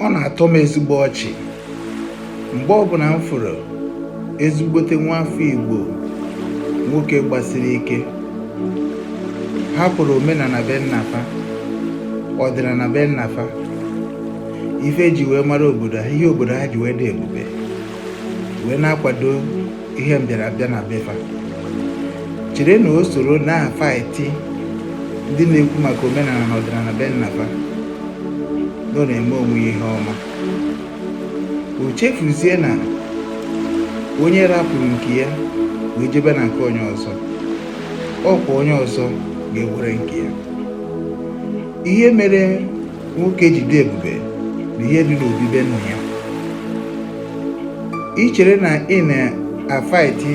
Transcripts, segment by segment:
ọ na-atọ m ezigbo ọchị mgbe ọbụla m fụrụ ezigbote nwa afọ Igbo nwoke gbasiri ike hapụrụ omenala be nnafa ọdịnala be nnafa ife eji wee mara obodo ha ihe obodo ha ji wee dị ebube wee na-akwado ihe mbịarabịa na befa chere na o soro na-afaiti ndị na-ekwu maka omenala na ọdịnala be nnafa na ọ na-eme onwe ya ihe ọma o chefuzie na onye rapụrụ nke ya wee jebe na nke onye ọzọ ọkwa onye ọzọ ga-ewere nke ya ihe mere nwoke ji dị ebube bụ ihe dị n'obi be nna ya ị chere na ị na-afaiti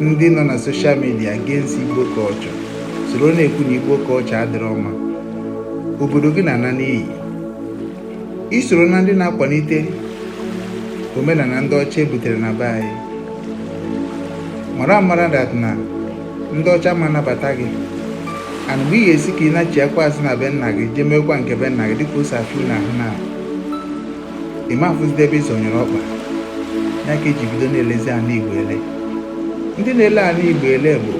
ndị nọ na soshal midia against igbo culture soro na-ekwu na igbo culture adịrọ mma obodo gị na-ana n'iyi isoro na ndị na-akwalite omenala ndị ọcha ebutere na be anyị mara amara dat na ndị ọcha ama anabata gị and mgbe ị ga-asị ka ị nachiakwa azụ na be nna gị jee meekwa nke be nna gị dịka ose afụ na ahụ na ịma afụzide ebe ị zọnyere ọkpa ya ka eji bido na-elezi ana igbo ele ndị na-ele ana igbo ele bụ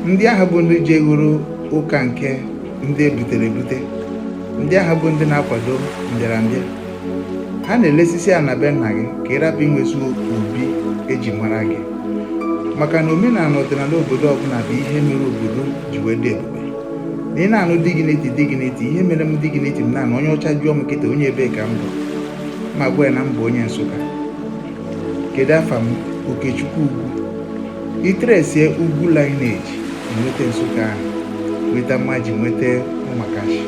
ndị ahụ bụ ndị ji egoro ụka nke ndị ebutere ebute ndị ahụ bụ ndị na-akwado mbịarambịa ha na-elesisi ana be nna gị ka ị rapụ inwezi obi eji mara gị maka na omenala ọdịnala obodo ọbụla bụ ihe mere obodo ji wee dị ebube na ị na-anụ dignity dignity ihe mere m dignity m na-anụ onye ọcha jụọ m kịta onye ebee ka m bụ m agwa ya na m bụ onye nsụka kedu afa m okechukwu ugwu Itresie ugwu lineage nweta Nsụka ahụ nweta mmaji nweta ụmakashi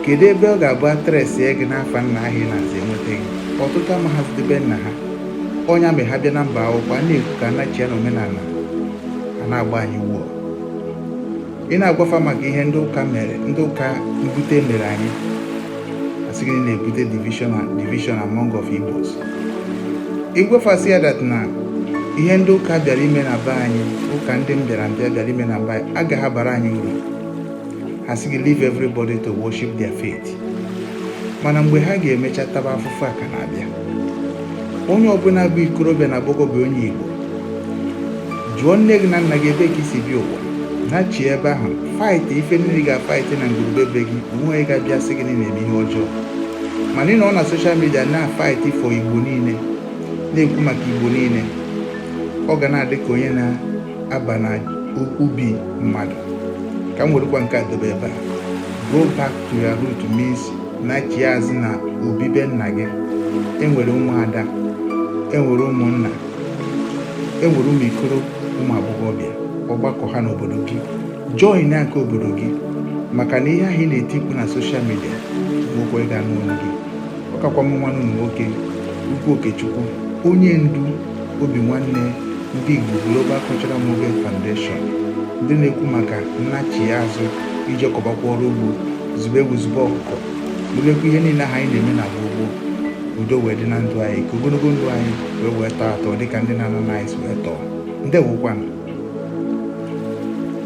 kedu ebe ọ ga-abụ atresie gị n'afa nna ahụ ị na-aza enweta gị ọtụtụ amaghazịde be nna ha ọnya mgbe ha bịa na mba akwụkwọ a na-ekwu ka anachia na omenala a na-agba anyị wuo ị na-agwafa maka ihe ndị ụka mere ndị ụka mbute mere anyị asị gị na-ebute division among of Igbos ịgwafasị ya dat na ihe ndị ụka bịara ime na be anyị ụka ndị mbịarambịa bịara ime na be anyị agaghị abara anyị uru ha sị gị leave everybody to worship their faith mana mgbe ha ga-emecha taba afụfụ a ka na-abịa onye ọbụla bụ ikorobịa na agbọghọbịa onye Igbo jụọ nne gị na nna gị ebe ka i si bịa ụwa nachie ebe ahụ faịtị ife niile ị ga-afaịtị na ngwurube be gị o nweghị ga-abịa sị gị na ị na-eme ihe ọjọọ mana ị nọ na soshal midia na-afaịtị fọ igbo niile na-ekwu maka igbo niile ọ ga na-adị ka onye na-aba na ubi mmadụ ka m werekwa nke a dobe ebe a go back to your root means nachie azụ na obibe nna gị e nwere ụmụada e nwere ụmụnna e nwere ụmụ ikoro ụmụ agbọghọbịa ọgbakọ ha n'obodo gị join na nke obodo gị maka na ihe ahụ ị na-eti mkpu na soshal midia nwekwa ịga n'ụnọ gị ọ kakwa m nwanne unu nwoke ugwu okechukwu onye ndu obinwannem ndị igbo global cultural movement foundation ndị na-ekwu maka nnachi azụ ije kọbakwa ọrụ ugbo zụbe ewu zụbe ọkụkọ mebekwa ihe niile ahụ anyị na-eme na gboo gboo udo wee dị na ndụ anyị ka ogologo ndụ anyị wee wee tọọ atọ dịka ndị nna nna anyị si wee tọọ ndewokwanụ